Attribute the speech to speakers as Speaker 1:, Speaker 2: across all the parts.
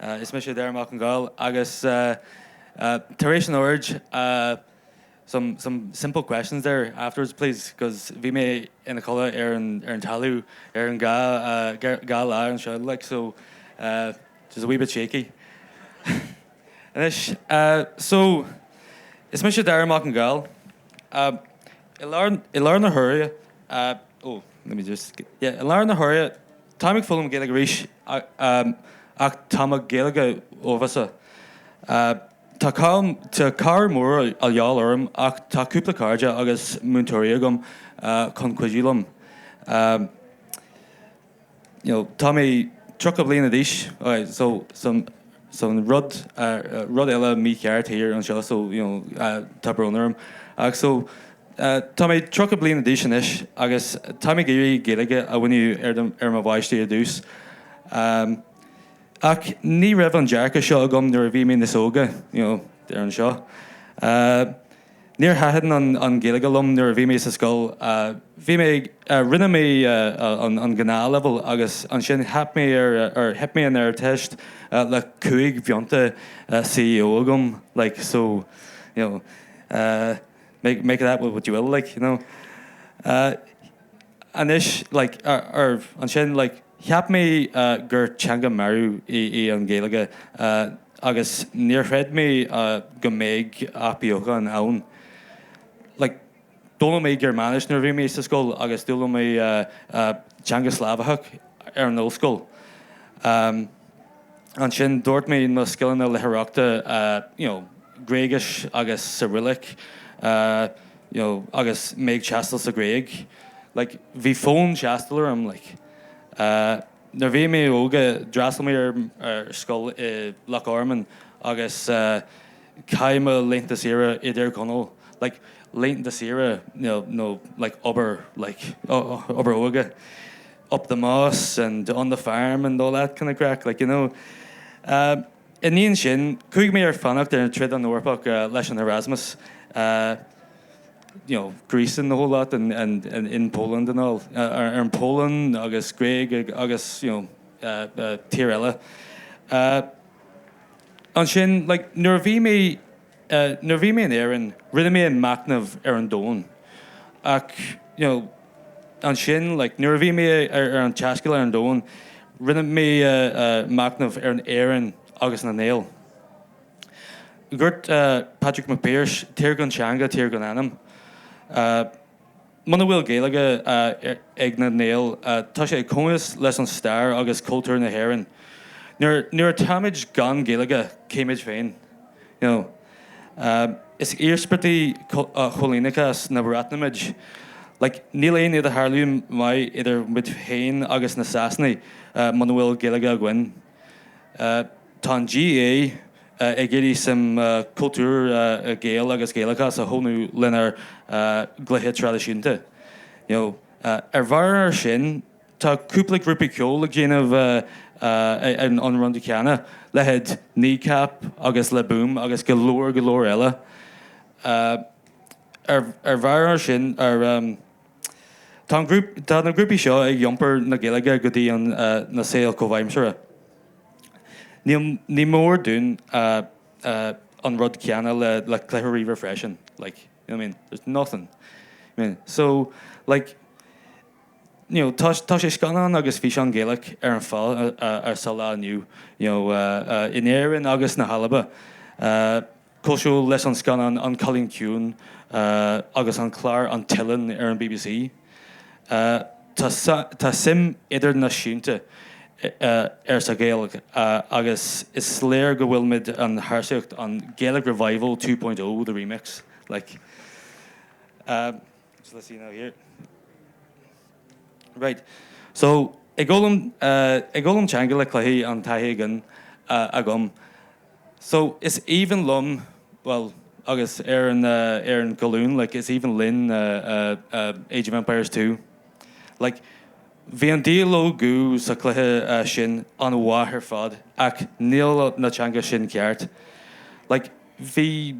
Speaker 1: Is mise Darragh Mac Con Gaill agus tar éis an óráid so some simple questions there afterwards please cos bhí mé ina chodladh ar an ar an talamh ar an dhá lá anseo like so just a wee bit shaky anois so is mise Darragh Mac Con Gaill i lár i lár na huaire oh let me just yeah i lár na huaire Táim ag foghlaim Gaeilge arís ach tá mo Ghaeilge uafásach. Tá tá cabhair mór de dhíth orm ach tá cúpla cairde agus múinteoirí agam chun cuidiú liom. Tá mé tríocha bliana d'aois. so rud rud eile mícheart thiar anseo so you know tá brón orm ach so tá mé tríocha bliain d'aois anois agus tá mé ag iarraidh Gaeilge a mhúineadh ar mo bpáistí ar dtús ach ní raibh an dearcadh seo agam nuair a bhí mé níos óige you know thiar anseo. Níor thaitin an Ghaeilge liom nuair a bhí mé sa scoil. Bhí mé. Rinne mé an ghnáthleibhéal agus ansin theip mé ar, theip mé an Ardteist le cúig phointe CAO agam, like, so, you know, make, make of that what you will, like, you know. Anois, like, ansin, like, cheap mé gur teanga marbh í an Ghaeilge. Agus níor chreid mé go mbeadh athbheochan ann. Like, d'fhoghlaim mé Gearmáinis nuair a bhí mé sa scoil agus d'fhoghlaim mé teanga Slavacha ar an ollscoil. Ansin, d'úsáid mé mo scileanna léitheoireachta, you know, Gréigis agus Coireallach, you know, agus mé ag taisteal sa Ghréig. Like, bhí fonn taistil orm, like. Nuair a bhí mé óg, d'fhreastail mé ar scoil i Loch Garman agus chaith mé laethanta saoire i dTír Chonaill. Like, laethanta saoire, you know, like obair, like, obair óige. Up the Moss and on the farm and all that kind of craic, like, you know. Ina dhiaidh sin, chuaigh mé ar fánaíocht ar fud an Eorpach leis an Erasmus, you know, Greece and the whole lot and and and in Poland and all, ar an Pholainn agus Gréig agus, you know, tír eile. Ansin, like, nuair a bhí mé. Nuair a bhí mé in Éirinn, rinne mé machnamh ar an domhan. Ach, you know, ansin, like, nuair a bhí mé ar an taisteal ar an domhan, rinne mé machnamh ar an Éirinn agus na nGael. Dúirt Patrick Mac Piarais, Tír gan teanga, tír gan anam. Muna bhfuil Gaeilge ag na nGael, tá sé cónasc leis an stair agus cultúr na hÉireann. Nuair atáimid gan Gaeilge, cé muid féin? Is íospartaigh choilíneachas na Breataine muid. Like, níl aon idirdhealú maith idir muid féin agus na Sasanaigh muna bhfuil Gaeilge againn. Tá an GA ag iarraidh suim cultúir Gael agus Gaelachas a thónú lenár gcluichí traidisiúnta. Ar bharr ar sin, tá cúpla grúpa ceoil ag déanamh an rud céanna, leithéid Kneecap agus Le Boom agus go leor go leor eile. Ar bharr ar sin, ar. Tá na grúpaí seo ag iompar na Gaeilge go dtí an saol comhaimseartha. Ní mór dúinn an rud céanna le cluichí ríomhaire freisin. Like, there's nothing. So, like, Tá sé scannán agus físeán Gaelach ar an fáil sa lá inniu, in Éirinn agus na hAlba. cosúil leis an scannán An Cailín Ciúin agus an clár An tOileán ar an bbc. Tá suim idirnáisiúnta air sa Ghaeilge agus is léir go bhfuil muid ar thairseach an Gaelic Revival 2.0 the remix like so let's see now here right so ag foghlaim ag foghlaim teanga le cluichí an taithí againn agam So, is aoibhinn liom, bhuel, agus ar an, ar an gcolún, like, is aoibhinn linn Age of Empires two. Like, bhí an dialóg sa chluiche sin an-mhaith ar fad ach níl na teanga sin ceart. Like, bhí.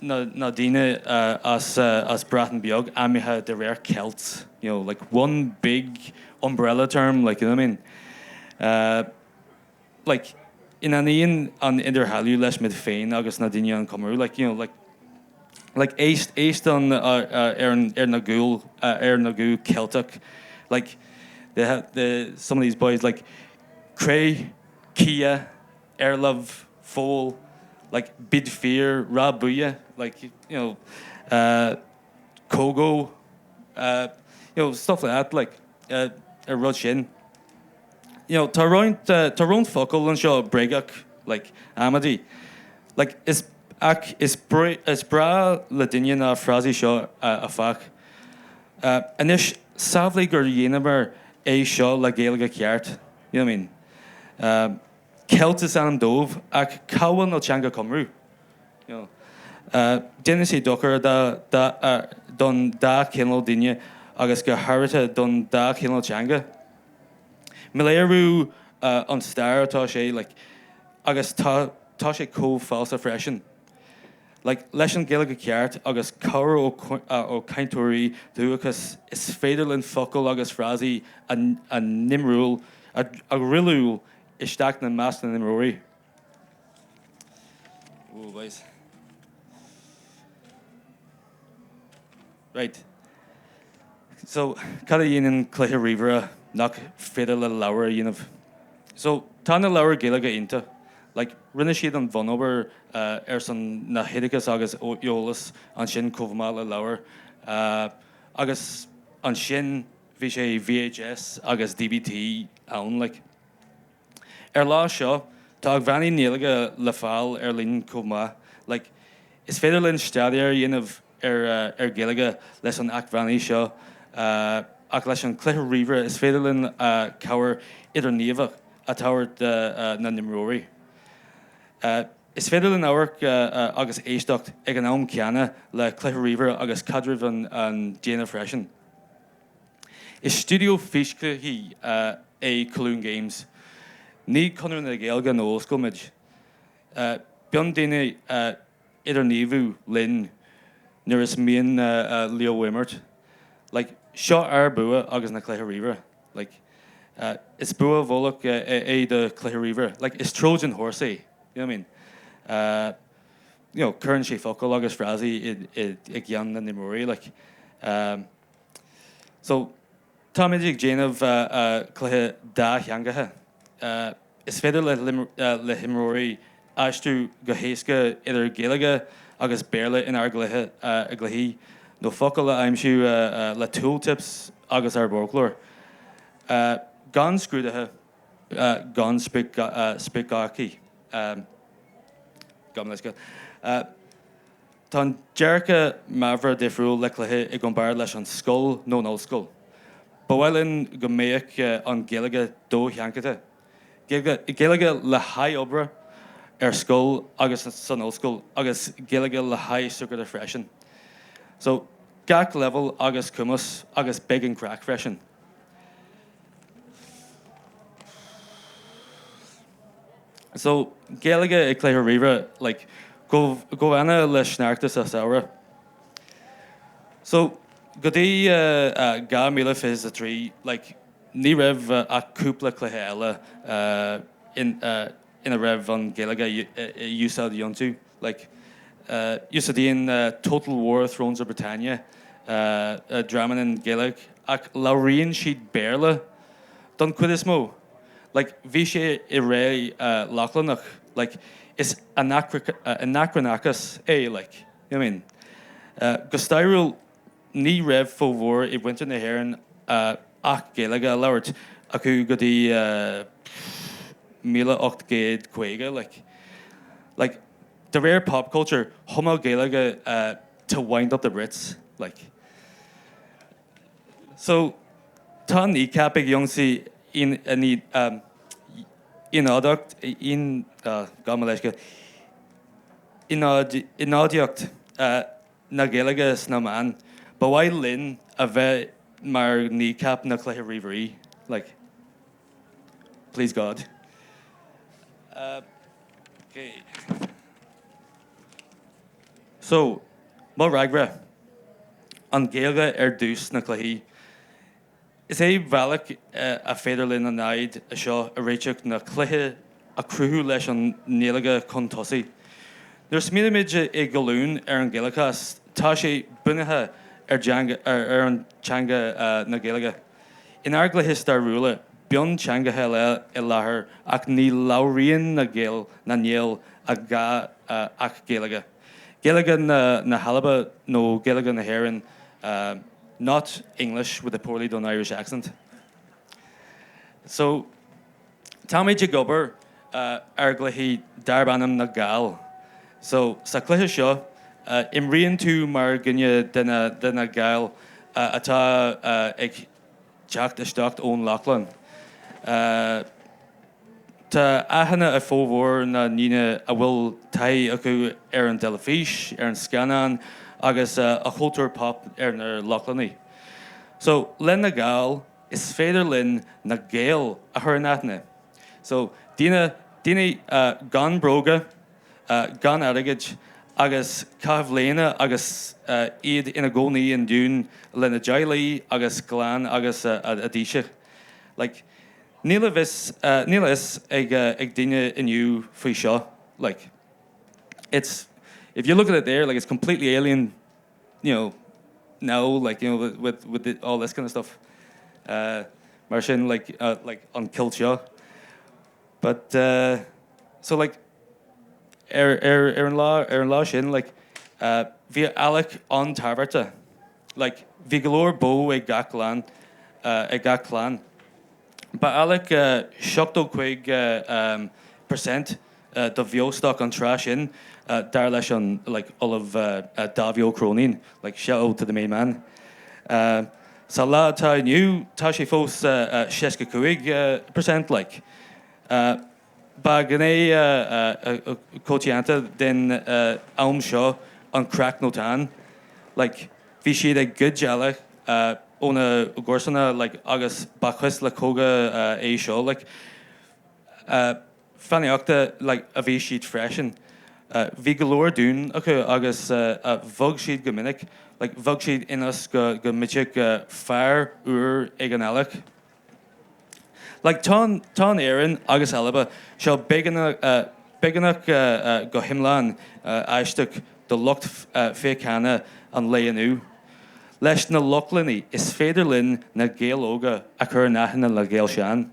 Speaker 1: na daoine as Breatain Beag ainmnithe de réir Celts you know like one big umbrella term like you know what I mean uh like ní aithníonn an idirdhealú leis muid féin agus na daoine an Cymru like you know like like éist éist an ar an ar na guth ar na guth Ceilteach like they have the some of these boys like cré cia ar láimh, foal, like bid fír, rá buille, like, you know, eh, cogadh, eh, you know, stuff like that, like, eh, ar rud sin. You know, tá roinnt, eh, tá roinnt focal anseo bréagach, like, amaidí. Like, is, ach is breá, is breá le daoine na frásaí seo áfach. Eh, anois, samhlaigh gur dhéanamar é seo le Gaeilge cheart, you know what I mean? Eh. Celt is ainm dóibh, ach cá bhfuil na teanga Cymru? You know. Déanann sé dochar don dá chineál daoine agus go háirithe don dá chineál teanga. Míléiriú an stair atá sé, like, agus tá sé chomh falsa freisin. Like leis an Ghaeilge ceart agus cabhair ó chainteoirí dúchais, is féidir linn focail agus frásaí a n-imreoidh, a dhruileáil isteach na measc na n-imreoirí. Ooh boys. Right. So, cad a dhéanann cluiche ríomhaire nach féidir le leabhar a dhéanamh? So, tá na leabhair Ghaeilge iontach. Like, rinne siad an bhunobair ar son na hoideachas agus eolas ansin chomh maith le leabhair. Agus ansin bhí sé VHS agus DVD ann, like. Ar lá seo, tá acmhainní nGaeilge le fáil ar líne chomh maith, like is féidir linn staidéar a dhéanamh ar ar Gaeilge leis an acmhainní seo, ach leis an cluiche ríomhaire is féidir linn cabhair idirghníomhach a tabhairt do na n-imreoirí. Is féidir linn amharc agus éisteacht ag an am céanna le cluiche ríomhaire agus caidreamh an déanamh freisin. Is stiúideo físchluichí é Colún Games. Ní Conradh na Gaeilge nó ollscoil muid. Bíonn daoine ag idirghníomhú linn nuair is mian leo imirt. Like, seo ár bua agus na cluiche ríomhaire. Like, is bua i bhfolach é do chluiche ríomhaire. Like, is Trojan Horse é, you know what I mean? you know, cuireann sé focail agus frásaí i gceann na n-imreoirí, like, um, so, táimid ag déanamh cluiche dátheangacha. Uh, is féidir le himreoirí aistriú go héasca idir Gaeilge agus Béarla inár gcluiche, ár gcluichí, nó focail a aimsiú le tooltips agus ár bhfoclóir. Uh, gan scrúduithe, gan spriocdhátaí gan uisce. Tá an dearcadh meabhair difriúil le cluiche i gcomparáid leis an scoil nó an ollscoil. Ba mhaith linn go mbeadh an Ghaeilge dosheachanta, Gaeilge le haghaidh oibre, ar scoil agus san ollscoil agus Gaeilge le haghaidh súgartha freisin. So, gach leibhéal agus cumas agus beidh an craic freisin. So, Gaeilge i gcluichí ríomhaire, like, go, chomh hannamh le sneachta sa samhradh. So, go dtí, eh, dhá míle fiche is a trí, like, ní raibh ach cúpla cluiche eile, eh, in, eh, ina raibh an Ghaeilge a úsáid iontu, like, úsáideann Total War, Thrones of Britannia dram ainm Gaeilge ach labhraíonn siad Béarla don chuid is mó. Like, bhí sé i ré Lochlannach, like, is anacranachas é, like, you know what I mean? Go stairiúil, Ní raibh formhór de mhuintir na hÉireann ach Gaeilge a labhairt acu go dtí míle ocht gcéad caoga, like. Like, de réir pop culture, chumadh Gaeilge to wind up the Brits, like. So, tá Kneecap ag ionsaí ionadaíocht, gabh mo leithscéal, ionadaíocht. na Gaeilge sna meáin. Ba mhaith linn a bheith mar Kneecap na cluiche ríomhairí. Like. Please God. Okay. So, mo fhreagra. An Ghaeilge ar dtús sna cluichí. Is é bealach a féidir linn an fhadhb seo a réiteach ná cluiche a chruthú leis an nGaeilge chun tosaigh. Nuair a smaoinímid i gcolún ar an Ghaelachas, tá sé bunaithe ar an teanga na Gaeilge. In ár gcluiche stairiúla, bíonn teangacha eile i láthair ach ní labhraíonn na Gaeil, na nGael, a dhath ach Gaeilge. Gaeilge na hAlba nó Gaeilge na hÉireann not English with a poorly done Irish accent. So, táimid ag obair ar chluiche darb ainm Na Gaill. So, sa chluiche seo, imríonn tú mar dhuine de na Gaill atá ag. Teacht isteach ón Lochlainn. Tá aithne ag formhór na ndaoine a bhfuil taithí acu ar an dteilifís, ar an scannán agus a chultúr pop ar na Lochlannaigh. So, le na Gaill, is féidir linn na Gaeil a chur in aithne. So, daoine, daoine gan bróga. gan airgead, agus cathbhlianta agus iad ina gcónaí i ndún lena dteaghlaigh agus clann agus a dtaoisigh. Like. Níl a bhfios, níl a fhios ag daoine inniu faoi seo. Like. It's, if you look at it there, like, it's completely alien, you know, now, like, you know, with, with the, all this kind of stuff. Mar sin, like, like, an cultúr seo. But eh, so like, ar, ar, ar an lá, ar an lá sin, like, eh, bhí eallach an-tábhachtach. Like, bhí go leor bó ag gach clann, eh, ag gach clann. Ba eallach eh, seachtó cuig eh, em, per cent eh, do bheostoc an tráth sin, eh, dar leis an, like, Ollamh eh, eh, Dáibhí Ó Cróinín, like, shout out to the main man. Eh, Sa lá atá inniu, tá sé fós 65 per cent like. Ba ghné choitianta den am seo an creach nó táin. Like, bhí siad ag goid eallaigh óna gcomharsana like agus ba chuis le cogadh é seo like. fánaíochta like a bhí siad freisin. Bhí go leor dún acu agus bhog siad go minic, like. Bhog siad ionas go mbeadh féar úr ag an eallach, like. Tá an Éirinn agus Alba seo beagnach go hiomlán aisteach do lucht féachana an lae inniu. Leis na Lochlannaigh, is féidir linn na Gaeil óga a chur in aithne le Gaeil shean.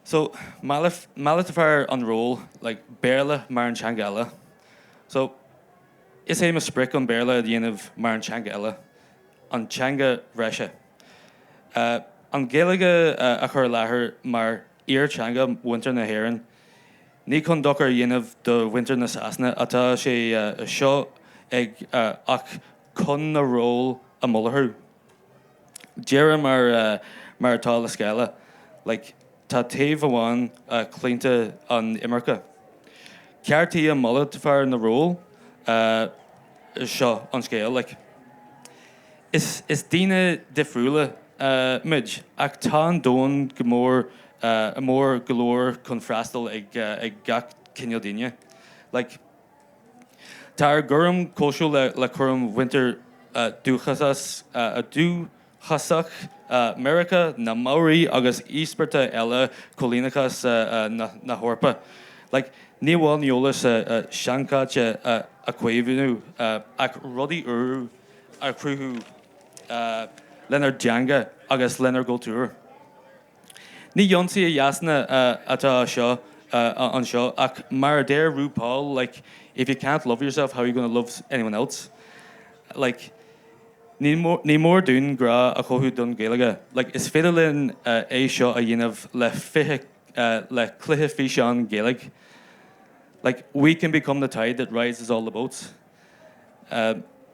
Speaker 1: So, malartófar an ról, like, Béarla mar an teanga eile. So, is é mo sprioc an Béarla a dhéanamh mar an teanga eile, an teanga bhreise. An Ghaeilge a chur i láthair mar fhíortheanga mhuintir na hÉireann. Ní chun dochar a dhéanamh do mhuintir na Sasana atá sé seo ach chun na ról a mhalartú. Deireadh mar, mar atá le scéala, like, tá taobh amháin claonta an imirce. Ceartaí a malartófar na ról seo an scéal, like. Is, is daoine difriúla muid ach tá an domhan go mór, mór go leor chun freastal ag, ag gach cineál daoine, like. Tá ár gcúram cosúil le cúram mhuintir dúchasach Mheiriceá, na Maori agus íospartaigh eile coilíneachas na hEorpa. Like, ní amháin an t-eolas seanchaite a chaomhnú ach rudaí úra a chruthú lenár dteanga agus lenár gcultúr. Ní ionsaí a dhéanamh atá anseo ach mar a deir RuPaul like if you can't love yourself how are you gonna love anyone else like ní mór dúinn grá a chothú don Ghaeilge like is féidir linn é seo a dhéanamh le cluichí físeáin Ghaeilge like we can become the tide that rises all the boats.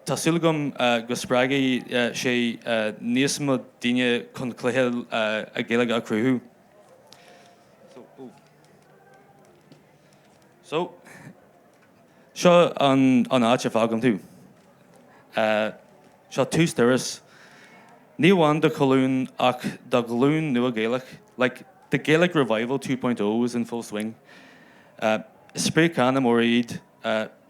Speaker 1: Tá súil agam go spreagfaidh sé níos mó daoine chun cluichí Gaeilge a chruthú. So, seo an áit a fhágaim tú. Seo tús turas, ní amháin do Cholún ach do ghlúin nua Gaelach, like, the Gaelic revival two point O is in full swing. Is spriocanna móra iad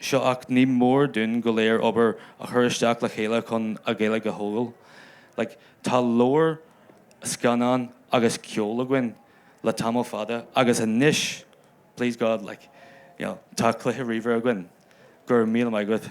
Speaker 1: seo ach ní mór dúinn go léir obair a chur isteach le chéile chun an Ghaeilge a thógáil. Like, tá leabhair, scannáin agus ceol againn le tamall fada agus anois, please God, like, you know, tá cluiche ríomhaire againn. Go raibh míle maith agat.